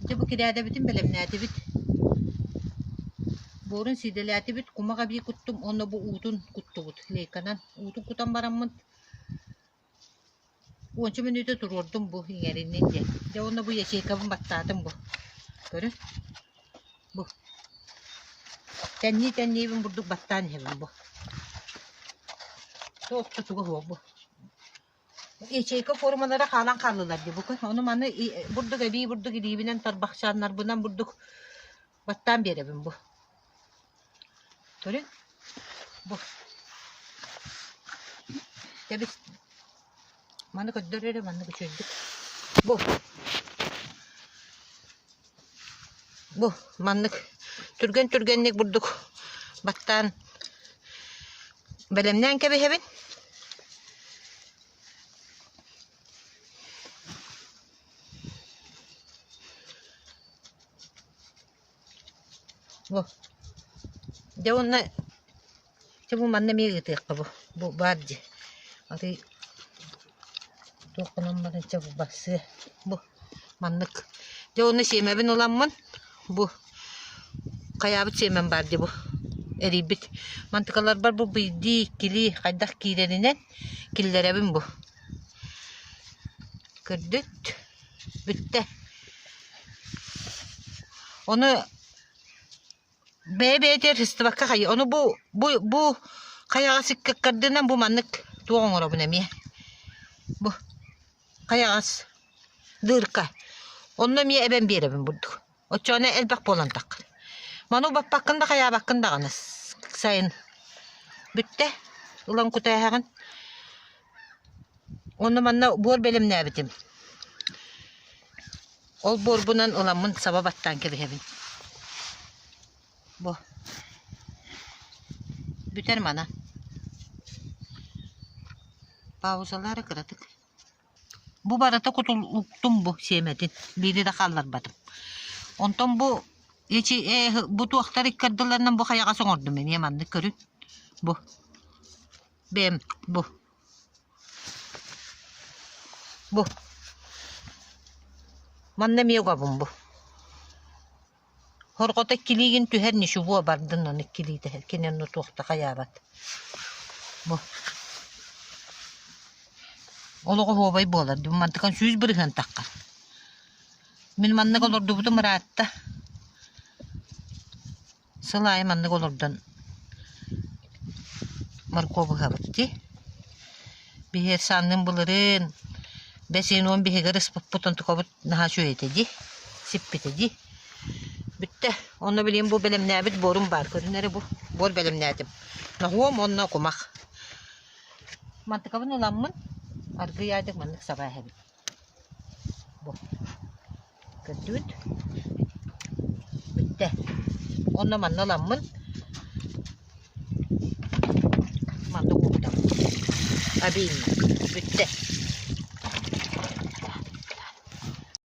Дьэ бу кирээдэбитин бэлэмнээтибит, буорун сиидэлээтибит, кумах эбии куттум уонна бу уутун куттубут. Лейканан уутун кутан бараммын, уонча мүнүүтэ туруордум бу иҥэриннин диэн. Дьэ уонна бу ячейкабын баттаатым бу. Көрү, бу. Тэннии-тэнниибин бурдук баттаан иһэбин бу. Тоох тутуга суох бу. ячейка форумалара хаалан хааллылар дии бука ону маны бурдук эбии бурдук илиибинэн тарбахчааннарбынан бурдук баттаан биэрэбин бу көрүҥ бу тэбис маны көрдөр эрэ маннык үчүөйдүк бу Бу маннык түргэн-түргэнник бурдук баттаан бэлэмнээн кэбиһэбин. Бу. Дьэ уонна Чэ бу манна эмиэ ыытыахха бу, бу баар дии. Атый туох гынан баран чэ бу барсыа. Бу маннык. Дьэ уонна сиэмэбин уламмын бу хайаабыт сиэмэм баар дии бу эрийбит. Мантыкаларбар бу биирдии, иккилии хайдах киирэринэн киллэрэбин бу. Көрдүт, бүттэ. Ону Бэйэ-бэйэтэ архистовакка хайы ону бу бу бу хайаҕа сиккэккэрдинэн бу маннык туох оҥоробун эмиэ бу хайаҕас дырка онно эмиэ эбэн биэрэбин бурдук оччоҕуна элбэх буолан таххын маны баппаккын да хайаабаккын даҕаны сайын бүттэ ылан кутээһэҕин уонна манна буор бэлэмнээбитим Ол буорбунан уламмын саба баттаан кэбиһэбин. Бо. Бүтэр мана. Паузалары кыратык. Бу барыта кутул уктум бу сиэмэтин. Биири да хаалларбатым. Онтон бу эчи э бу туохтар иккардыларынан бу хайаҕас оҥордум мен маннык көрүн. Бу. Бэм бу. Бу. Манна эмиэ угабын бу. Хорҕото иккилиигин түһэр ничего бардын ону иккилиитэ кини онну туох да хайаабат. Бу. Олоҕоһуобай буолар дим мантыкан сүүс бырыһыан тахха. Мин маннык олордубутум ыраатта. Сыл аайы маннык олордон моркуоп ыһабыт дии. Биһиэт санныым былырыын бэс ыйын уон биһиги ырыспыппыт онтукабыт наһаа үчүгэй этэ дии, сиппитэ дии. Бүттэ. Онно билигин бу бэлэмнээбит буорум баар. Көрүнэрэ бу. Буор бэлэмнээтим. Ноһуом уонна кумах. Мантыкабын уламмын, аргыый аайдык маннык саба эһэбит. Көрдүгүт? Бүттэ. Онно манна ыламмын, манна угубутабын. Обильно. Бүттэ.